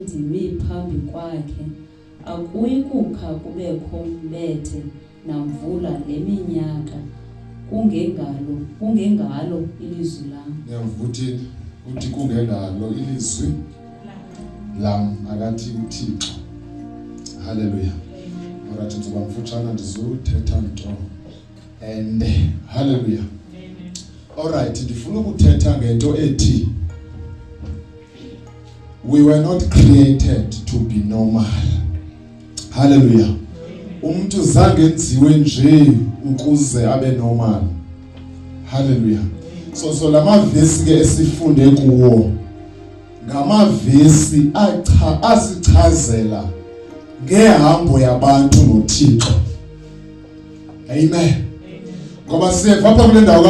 ndimi phambi kwakhe, akuyi kukha kubekho mbethe namvula le minyaka kungengalo kungengalo ilizwi lam ndiyavuthi uthi kungengalo ilizwi lam akathi uthixo haleluya orathi nzibamfutshana ndizuthetha nto and hallelujah alright ndifuna ukuthetha ngento ethi we were not created to be normal hallelujah umuntu zange enziwe nje ukuze abe normal hallelujah so so lamavesi ke esifunde kuwo ngamavesi acha asichazela ngehambo yabantu noThixo amen ngoba siyeva apha kule ndawo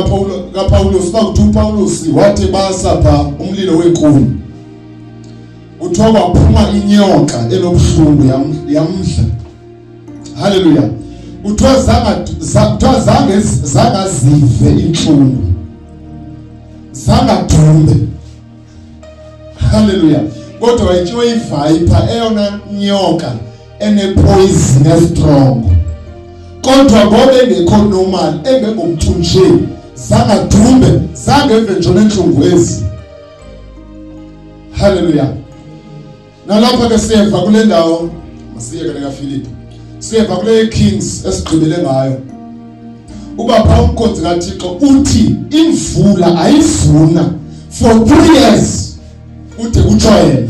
kapawulos uba kuthi upawulos wathi basa pha umlilo weenkuni kuthiwa kwaphuma inyoka enobuhlungu yamdla halleluya kuthiwa kuthiwa zangazive iintlungu zangadumbe halleluya kodwa wayityiwe ivayipha eyona nyoka enepoison estrong kodwa ngoba engekho normal engengomntu nje zangadumbe zangeve nje nentlungu ezi haleluya nalapha ke siyeva kule ndawo masiyeke nekafilipi siyeva kule kings esigqibele ngayo uba phaa umkhonzi kathixo uthi imvula ayivuna for three years kude kutsho yena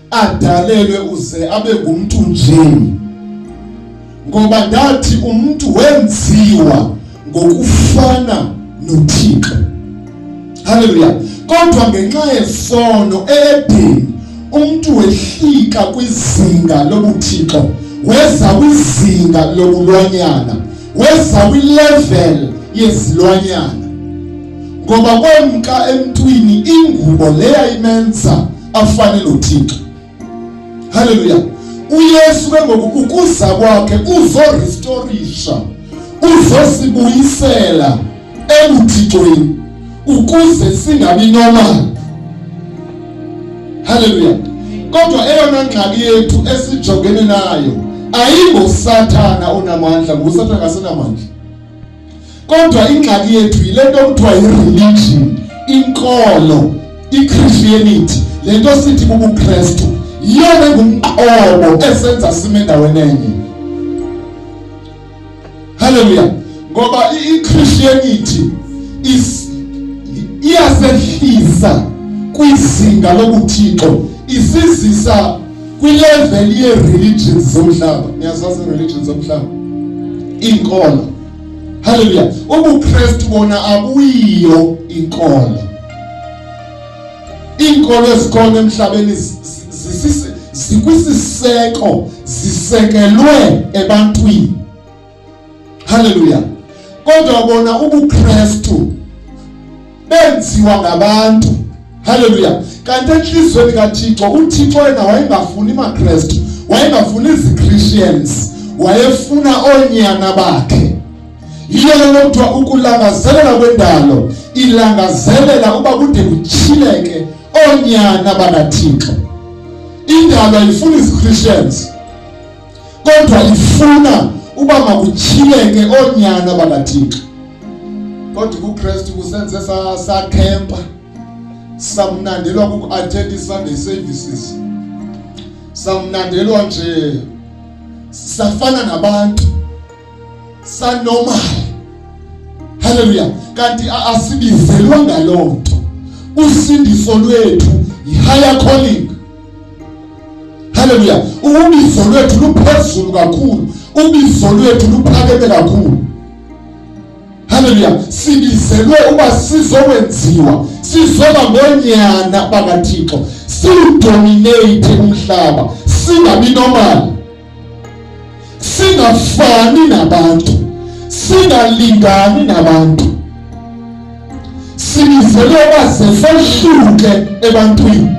adalelwe uze abe ngumntu nje ngoba ndathi umntu wenziwa ngokufana noThixo haleluya kodwa ngenxa yesono edini umntu wehlika kwizinga lobuthixo weza kwizinga lobulwanyana weza kwilevel yezilwanyana ngoba kwemka emntwini ingubo leya imenza afane noThixo. Haleluya. UYesu ke ngoku ukuza kwakhe kuzorestorisha, uzosibuyisela ebuthixweni ukuze singabi normal. Haleluya. Kodwa eyona ngxaki yethu esijongene nayo ayingosathana onamandla, ngusathana kasenamandla. Kodwa ingxaki yethu yile nto kuthiwa yi-religion, inkolo, i-Christianity, le nto sithi bubuKristu, yiyona engumqobo esenza sime endaweni enye. Haleluya. Ngoba i-Christianity is iyasehlisa kwizinga lobuthixo isizisa kwileveli yee-religions zomhlaba niyazazi ii-religions zomhlaba iinkolo halleluya ubukrestu bona abuyiyo inkolo iinkolo ezikhona emhlabeni zikwisiseko zisekelwe ebantwini Haleluya. Kodwa bona ubuKristu benziwa ngabantu. Haleluya. Kanti enhlizweni kaThixo uThixo yena wayengafuni maKristu, wayengafuni iziChristians, wayefuna onyana bakhe. Yiyo lento kuthiwa ukulangazelela kwendalo ilangazelela uba kude kuchileke onyana bakaThixo. Indalo ayifuni iziChristians kodwa ifuna uba makutyhileke oonyana bakathixo kodwa kukristu kusenze sakhempa samnandelwa kuku-attend i-sunday services samnandelwa nje safana nabantu sanormal haleluya kanti asibizelwa ngaloo nto usindiso lwethu yi-higher calling haleluya ubizo lwethu luphezulu kakhulu ubizo lwethu luphakeme kakhulu haleluya sibizelwe uba sizowenziwa sizoba ngoonyana bakathixo siwudomineyithe umhlaba singabi nomali singafani nabantu, singalingani nabantu, sibizele baze sohluke ebantwini.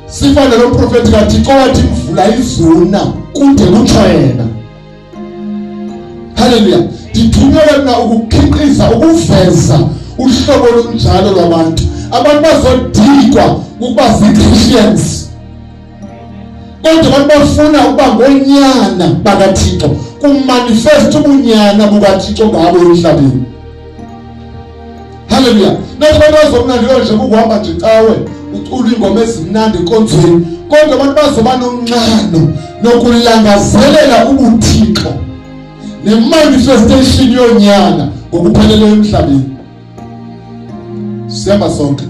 Sifane lo profeti kaThixo wathi imvula izuna kude kutsho yena. Haleluya. Ndithunyelwe mna ukukhiqiza ukuveza uhlobo olunjalo lwabantu. Abantu bazodikwa ukuba zii-Christians. kodwa abantu bafuna ukuba ngonyana bakathixo kumanifesta ubunyana bukathixo ngabo emhlabeni halleluya nathi abantu bazomnandi konje kukuhamba nje cawe ucula iingoma ezimnandi enkonzweni kodwa abantu bazoba nonxano nokulangazelela ubuthixo nemanifestation yonyana ngokupheleleyo emhlabeni Sema sonke.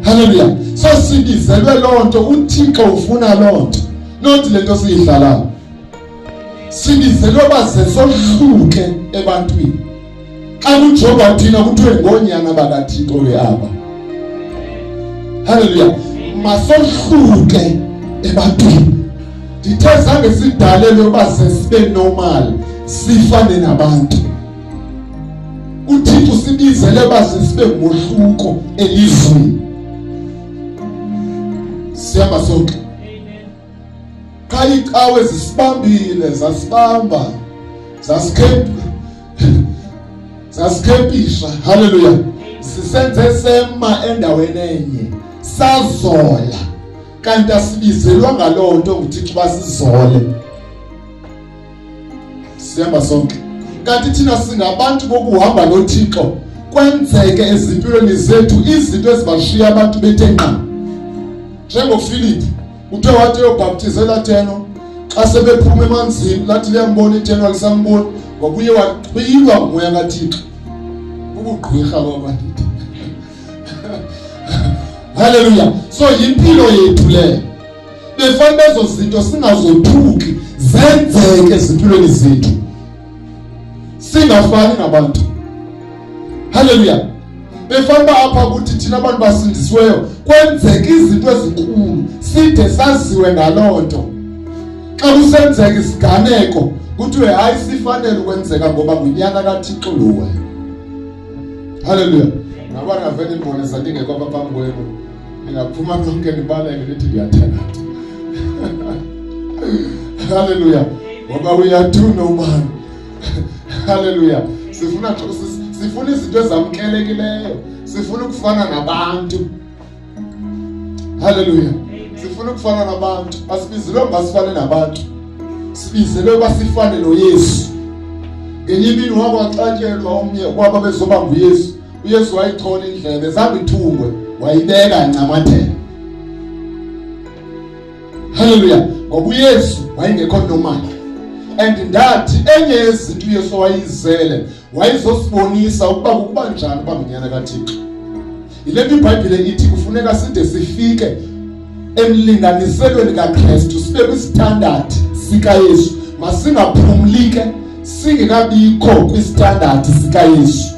Haleluya. So sibizelwe loo nto, uThixo ufuna loo nto. Not le nto siyidlalayo. Sibizelwe uba ze sohluke ebantwini. Xa kuJehova uthina kuthiwe ngoonyana bakaThixo ke aba. Haleluya. Masohluke ebantwini. Ndithe zange sidalelwe uba ze sibe normal sifane nabantu. uthixo usibizele baze sibe ngohluko elizweni siyaba sonke qha iicawe zisibambile zasibamba zasikhempa zasikhempisha haleluya sisenze sema endaweni enye sazola kanti asibizelwa ngaloo nto nguthixo basizole sihamba sonke kanti thina singabantu bokuhamba nothixo kwenzeke ezimpilweni zethu izinto ezibashiya abantu bethe nqa njengofilipi uthe wathi eyobhaptizela theno xa sebephuma emanzini lathi liyambona itheno alisamboni wabuye wachwilwa ngumoya kathixo ubugqwirha kwabandithi halleluya so yimpilo yethu leyo befanele ezo zinto singazothuki zenzeke ezimpilweni zethu singafani nabantu haleluya befanele apha ukuthi thina abantu basindisiweyo kwenzeka izinto ezinkulu side saziwe ngaloo nto xa kusenzeka isiganeko kuthiwe hayi sifanele ukwenzeka ngoba ngunyaka kathixo lowe haleluya ngabana vele ndibone sandingekho apha phambi kwenu Ningaphuma nonke nibaleke nithi ndiyathakatha. Hallelujah. Ngoba uyathuna ubani. Hallelujah. Sifuna sifuna izinto ezamkelekileyo. Sifuna ukufana nabantu. Hallelujah. Sifuna ukufana nabantu. Asibizelwe ngasifane nabantu. Sibizelwe basifane noYesu. Ngenye imini wakwaxatyelwa omnye kwaba bezoba nguYesu. uyesu wayithola indlebe zaba ithungwe wayibeka ncamathela haleluya ngoba uyesu wayengekho normal and ndathi enye yezinto uyesu wayizele wayizosibonisa ukuba kukuba njani uba ngunyana kathixo yile nto ibhayibhile ithi kufuneka side sifike emlinganiselweni kakristu sibe kwisithandathi sikayesu masingaphumlike singekabikho kwisithandathi sikayesu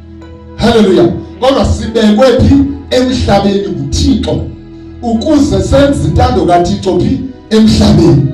Haleluya. Kodwa sibekwe phi emhlabeni nguThixo ukuze senze intando kaThixo phi emhlabeni.